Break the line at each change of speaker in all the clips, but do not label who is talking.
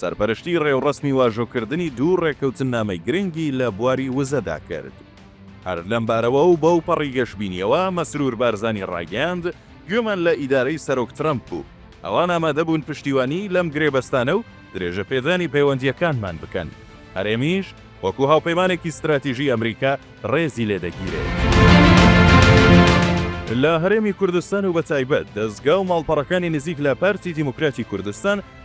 سەرپەرشتیی ڕێوڕەسمی واژۆکردنی دوو ڕێککەوتننامەی گرنگی لە بواری وزەدا کرد. هەر لەم بارەوە و بەوپەڕی گەشبینییەوە، مەسرور بارزانی ڕایگەیاند، گوێمان لە ئیدارەی سەرۆک ترەمپ بوو، ئەوان ئامادەبوون پشتیوانیی لەم گرێبەستانە و درێژەپێدانی پەیوەندییەکانمان بکەن، هەرێمیش وەکو هاوپەیمانێکی ستراتیژیی ئەمریکا ڕێزی لێ دەگیرێت. لە هەرێمی کوردستان و بەتایبەت دەزگا و ماڵپەڕەکانی نزیک لە پارتی دیموکراتی کوردستان،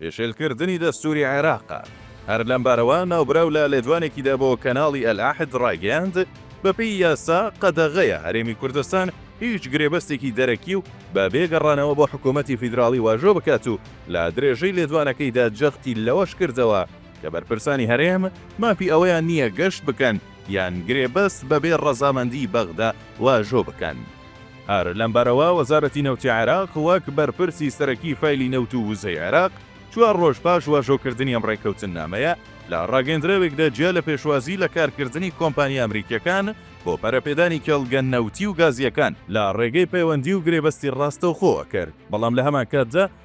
پێشێلکردنی دەستووری عێراق. هەر لەمبارەوە ناوبراو لە لێدوانێکیدا بۆ کەناڵی ئەلعەهد ڕایگەیاند، بەپێی یاسا قەدەغەیە هەرێمی کوردستان هیچ گرێبەستێکی دەرەکی و بە بێ گەڕانەوە بۆ حکوومەتی فیدراڵی واژۆ بکات و لە درێژەی لێدوانەکەیدا جەختی لەوەش کردەوە کە بەرپرسانی هەرێم مافی ئەوەیان نییە گەشت بکەن یان گرێبەست بەبێ ڕەزامەندی بەغدا واژۆ بکەن. هەر لەم بارەوە وەزارەتی نەوتی عێراق وەک بەرپرسی سەرەکی فایلی نەوت و وزەی عێراق چوار ڕۆژ پاش واژۆکردنی ئەم ڕێککەوتننامەیە لە ڕاگەیەندراوێکدا جیا لە پێشوازی لە کارکردنی کۆمپانیا ئەمریکییەکان بۆ پەرەپێدانی کێڵگە نەوتی و گازییەکان لە ڕێگەی پەیوەندی و گرێبەستی ڕاستەوخۆوە کرد بەڵام لە هەمانکاتدا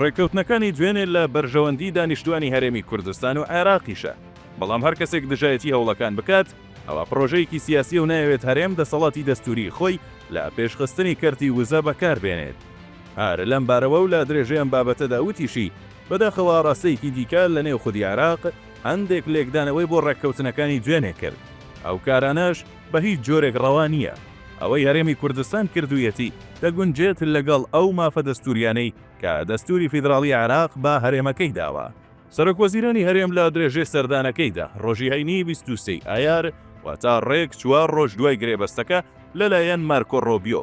ڕێککەوتنەکانی دوێنێ لە بەرژەوەندی دانیشتوانی هەرێمی کوردستان و عێراقیشە، بەڵام هەر کەسێک دژایەتی هەوڵەکان بکات ئەوا پڕۆژەیەکی سیاسیە و نایەوێت هەرێم دەسەڵاتی دەستووریی خۆی لە پێشخستنی کەرتی وزە بەکاربێنێت. هەر لەم بارەوە و لە درێژەی ئەم بابەتەدا وتیشی، بەداخەوە ئاڕاستەیەکی دیکە لەنێو خودی عێراق هەندێک لێکدانەوەی بۆ ڕێککەوتنەکانی دوێنێ کرد، ئەو کارانەش، بە هیچ جۆرێک ڕەوا نییە ئەوەی هەرێمی کوردستان کردوویەتی دەگونجێت لەگەڵ ئەو مافە دەستوورییانەی کە دەستووری فیدراڵی عێراق بە هەرێمەکەی داوە. سەرۆکوەزیرانی هەرێم لە درێژەی سەردانەکەیدا ڕۆژی هەینی بیست و سێ ی ئایار، واتە ڕێک چوار ڕۆژ دوای گرێبەستەکە لەلایەن مارکۆ ڕۆبیۆ،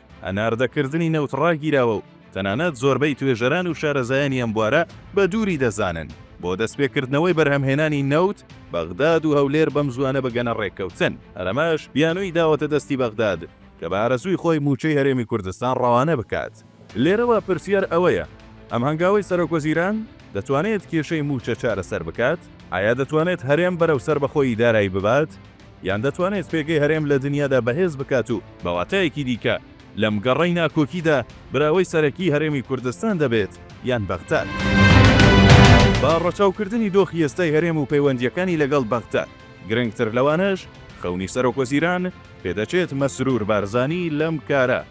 هەناردەکردنی نەوت ڕاگیراوە و تەنانەت زۆربەی توێژەران و شارەزایانی ئەم بوارە بە دووری دەزانن بۆ دەستپێکردنەوەی بەرهەمهێنانی نەوت، بەغداد و هەولێر بەمزووانە بگەنە ڕێککەوتن. هەر ئەمەش بیانووی داوەتە دەستی بەغداد کە بە ئارەزووی خۆی مووچەی هەرێمی کوردستان ڕەوانە بکات. لێرەوە پرسیار ئەوەیە، ئەم هەنگاوەی سەرۆکوەزیران دەتوانێت کێشەی مووچە چارەسەر بکات؟ ئایا دەتوانێت هەرێم بەرەو سەربەخۆیی دارایی ببات؟ یان دەتوانێت پێگەی هەرێم لە دنیادا بەهێز بکات و بە واتایەکی دیکە لەم گەڕەی ناکۆکیدا براوەی سەرەکی هەرێمی کوردستان دەبێت یان بەغداد. بە ڕەچاوکردنی دۆخی ئێستای هەرێم و پەیوەندییەکانی لەگەڵ بەغداد، گرنگتر لەوانەش خەونی سەرۆکوەزیران، پێدەچێت مەسرور بارزانی لەم کارە،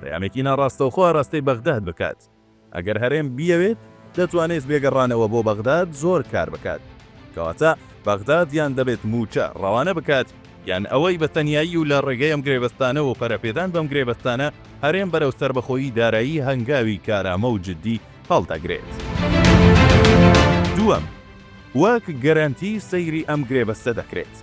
پەیامێکی ناڕاستەوخۆ ئاراستەی بەغداد بکات. ئەگەر هەرێم بیەوێت دەتوانێت بێ گەڕانەوە بۆ بەغداد زۆر کار بکات. کەواتە بەغداد یان دەبێت مووچە ڕەوانە بکات، یان ئەوەی بە تەنیایی و لە ڕێگەی ئەم گرێبەستانە و پەرەپێدان بەم گرێبەستانە هەرێم بەرەو سەربەخۆیی دارایی هەنگاوی کارامە و جددی هەڵدەگرێت. دووەم، وەک گەرەنتی سەیری ئەم گرێبەستە دەکرێت.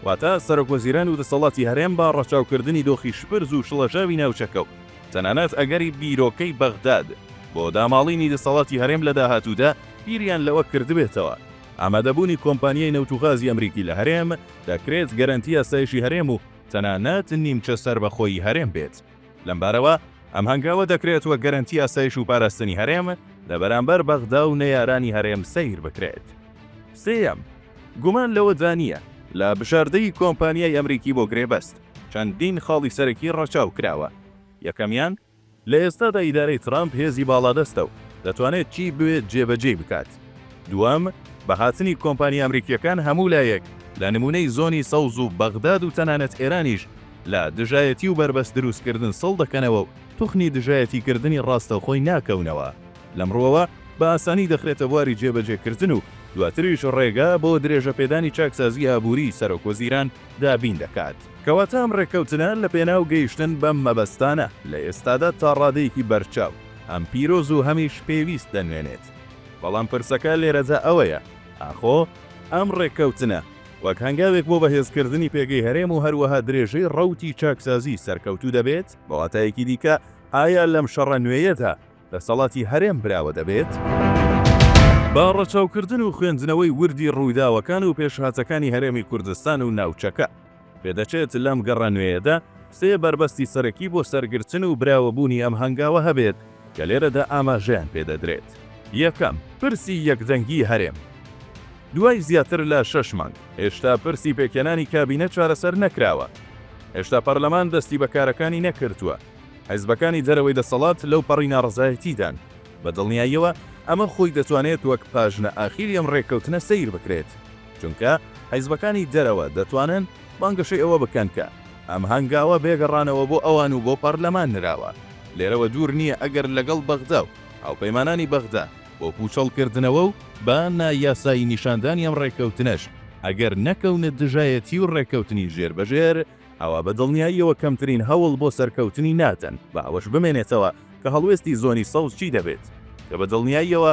واتە سەرۆک وەزیران و دەسەڵاتی هەرێم بە ڕەچاوکردنی دۆخی شپرز و شڵەژاوی ناوچەکە و تەنانەت ئەگەری بیرۆکەی بەغداد بۆ داماڵینی دەسەڵاتی هەرێم لە داهاتوودا بیریان لەوە کردبێتەوە ئامادەبوونی کۆمپانیای نەوت و غازی ئەمریکی لە هەرێم دەکرێت گەرەنتی ئاسایشی هەرێم و تەنانەت نیمچە سەربەخۆیی هەرێم بێت. لەمبارەوە ئەم هەنگاوە دەکرێت وەک گەرەنتی ئاسایش و پاراستنی هەرێم لە بەرامبەر بەغدا و نەیارانی هەرێم سەیر بکرێت. سێیەم، گومان لەوەدا نییە، لە بژاردەی کۆمپانیای ئەمریکی بۆ گرێبەست، چەندین خاڵی سەرەکی ڕەچاو کراوە. یەکەمیان، لە ئێستادا ئیدارەی ترەمپ هێزی باڵادەستە و دەتوانێت چی بوێت جێبەجێی بکات. دووەم، بە هاتنی کۆمپانیا ئەمریکییەکان هەموو لایەک، لە نموونەی زۆنی سەوز و بەغداد و تەنانەت ئێرانیش، لە دژایەتی و بەربەست دروستکردن سڵ دەکەنەوە و توخنی دژایەتیکردنی ڕاستەوخۆی ناکەونەوە. لەم ڕووەوە بە ئاسانی دەخرێتە بواری جێبەجێکردن و دواتریش ڕێگا بۆ درێژەپێدانی چاکسازی ئابووریی سەرۆکوەزیران دابین دەکات. کەواتە ئەم ڕێککەوتنە لەپێناو گەیشتن بەم مەبەستانە لە ئێستادا تا ڕادەیەکی بەرچاو هەم پیرۆز و هەمیش پێویست دەنوێنێت. بەڵام پرسەکە لێرەدا ئەوەیە، ئاخۆ ئەم ڕێککەوتنە، وەک هەنگاوێک بۆ بەهێزکردنی پێگەی هەرێم و هەروەها درێژەی ڕەوتی چاکسازی سەرکەوتوو دەبێت، بە واتایەکی دیکە ئایا لەم شەڕە نوێیەدا دەسەڵاتی هەرێم براوە دەبێت؟ بە ڕەچاوکردن و خوێندنەوەی وردی ڕووداوەکان و پێشهاتەکانی هەرێمی کوردستان و ناوچەکە، پێدەچێت لەم گەڕە نوێیەدا سێ بەربەستی سەرەکی بۆ سەرگرتن و براوەبوونی ئەم هەنگاوە هەبێت، کە لێرەدا ئاماژەیان پێ دەدرێت. یەکەم، پرسی یەکدەنگی هەرێم. دوای زیاتر لە شەش مانگ، هێشتا پرسی پێکهێنانی کابینە چارەسەر نەکراوە. هێشتا پەرلەمان دەستی بە کارەکانی نەکردووە. حیزبەکانی دەرەوەی دەسەڵات لەوپەڕی ناڕەزایەتیدان. بە دڵنیاییەوە ئەمە خۆی دەتوانێت وەک پاژنە ئاخیری ئەم رێککەوتنە سەیر بکرێت، چونکە حیزبەکانی دەرەوە دەتوانن بانگەشەی ئەوە بکەن کە، ئەم هەنگاوە بێگەڕانەوە بۆ ئەوان و بۆ پارلەمان نراوە، لێرەوە دوور نییە ئەگەر لەگەڵ بەغدا و هاوپەیمانانی بەغدا بۆ پووچەڵکردنەوە و بە نا یاسایی نیشاندانی ئەم ڕێککەوتنەش ئەگەر نەکەونە دژایەتی و ڕێککەوتنی ژێربەژێر، ئەوا بە دڵنیاییەوە کەمترین هەوڵ بۆ سەرکەوتنی نادەن، بە ئەوەش بمێنێتەوە کە هەڵوێستی زۆنی سەوز چی دەبێت، کە بە دڵنیاییەوە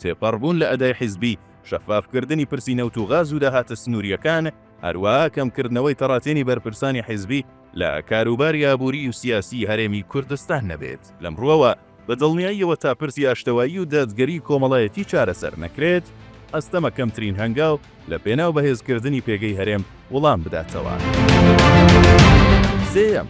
تێپەڕبوون لە ئەدای حیزبی، شەفافکردنی پرسی نەوت و غاز و داهاتە سنوورییەکان، هەروەها کەمکردنەوەی تەڕاتێنی بەرپرسانی حیزبی لە کاروباری ئابووری و سیاسیی هەرێمی کوردستان نەبێت. لەم ڕووەوە، بە دڵنیاییەوە تا پرسی ئاشتەوایی و دادگەریی کۆمەڵایەتی چارەسەر نەکرێت، ئەستەمە کەمترین هەنگاو لە پێناو بەهێزکردنی پێگەی هەرێم وڵام بداتەوە. سێیەم.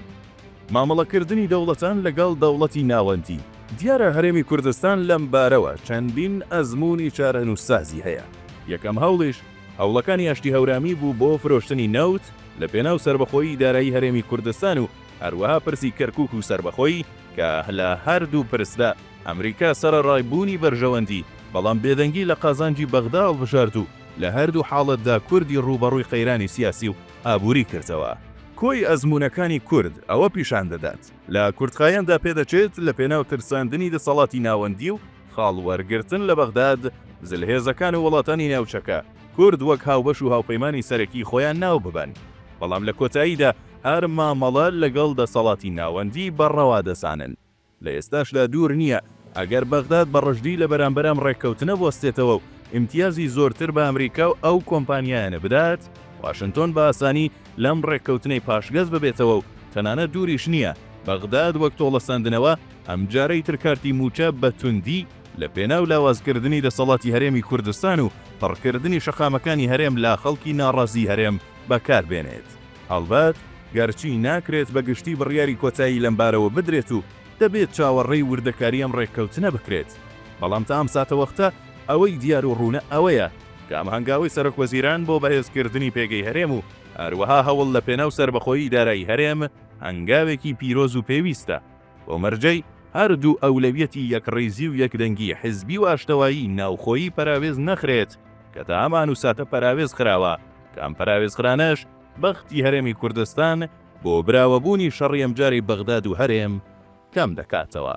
مامەڵەکردنی دەوڵەتان لەگەڵ دەوڵەتی ناوەندی. دیارە هەرێمی کوردستان لەم بارەوە چەندین ئەزموونی چارەنووسسازی هەیە. یەکەم هەوڵیش، هەوڵەکانی ئاشتی هەورامی بوو بۆ فرۆشتنی نەوت لەپێناو سەربەخۆیی دارایی هەرێمی کوردستان و هەروەها پرسی کەرکووک و سەربەخۆیی کە لە هەردوو پرسدا ئەمریکا سەرەڕای بوونی بەرژەوەندی بەڵام بێدەنگی لە قازانجی بەغدا هەڵبژارد و لە هەردوو حاڵەتدا کوردی ڕووبەڕووی قەیرانی سیاسی و ئابووری کردەوە. کۆی ئەزموونەکانی کورد ئەوە پیشان دەدات، لە کورتخایەندا پێدەچێت لە پێناو ترساندنی دەسەڵاتی ناوەندی و خاڵ وەرگرتن لە بەغداد، زلهێزەکان و وڵاتانی ناوچەکە، کورد وەک هاوبەش و هاوپەیمانی سەرەکی خۆیان ناو ببەن، بەڵام لە کۆتاییدا هەر مامەڵە لەگەڵ دەسەڵاتی ناوەندی بە ڕەوا دەزانن. لە ئێستاشدا دوور نییە ئەگەر بەغداد بە ڕژدی لە بەرامبەر ئەم ڕێککەوتنە بوەستێتەوە و ئیمتیازی زۆرتر بە ئەمریکا و ئەو کۆمپانیایانە بدات، واشنتۆن بە ئاسانی لەم ڕێککەوتنەی پاشگەز ببێتەوە و تەنانەت دووریش نییە بەغداد وەک تۆڵەسەندنەوە ئەمجارەی تر کارتی مووچە بە توندی لە پێناو لاوازکردنی دەسەڵاتی هەرێمی کوردستان و پڕکردنی شەقامەکانی هەرێم لا خەڵکی ناڕازی هەرێم بەکار بێنێت. هەڵبەت گەرچی ناکرێت بە گشتی بڕیاری کۆتایی لەمبارەوە بدرێت و دەبێت چاوەڕێی وردەکاری ئەم ڕێککەوتنە بکرێت، بەڵام تا ئەم ساتەوەختە ئەوەی دیار و ڕوونە ئەوەیە کە ئەم هەنگاوەی سەرۆکوەزیران بۆ بەهێزکردنی پێگەی هەرێم و هەروەها هەوڵ لە پێناو سەربەخۆیی دارایی هەرێم هەنگاوێکی پیرۆز و پێویستە بۆ مەرجەی هەردوو ئەولەویەتی یەکڕیزی و یەکدەنگی حزبی و ئاشتەوایی ناوخۆیی پەراوێز نەخرێت کە تا ئەم ئان و ساتە پەراوێز خراوە. کە ئەم پەراوێزخرانەش بەختی هەرێمی کوردستان بۆ براوەبوونی شەڕی ئەمجارەی بەغداد و هەرێم کەم دەکاتەوە.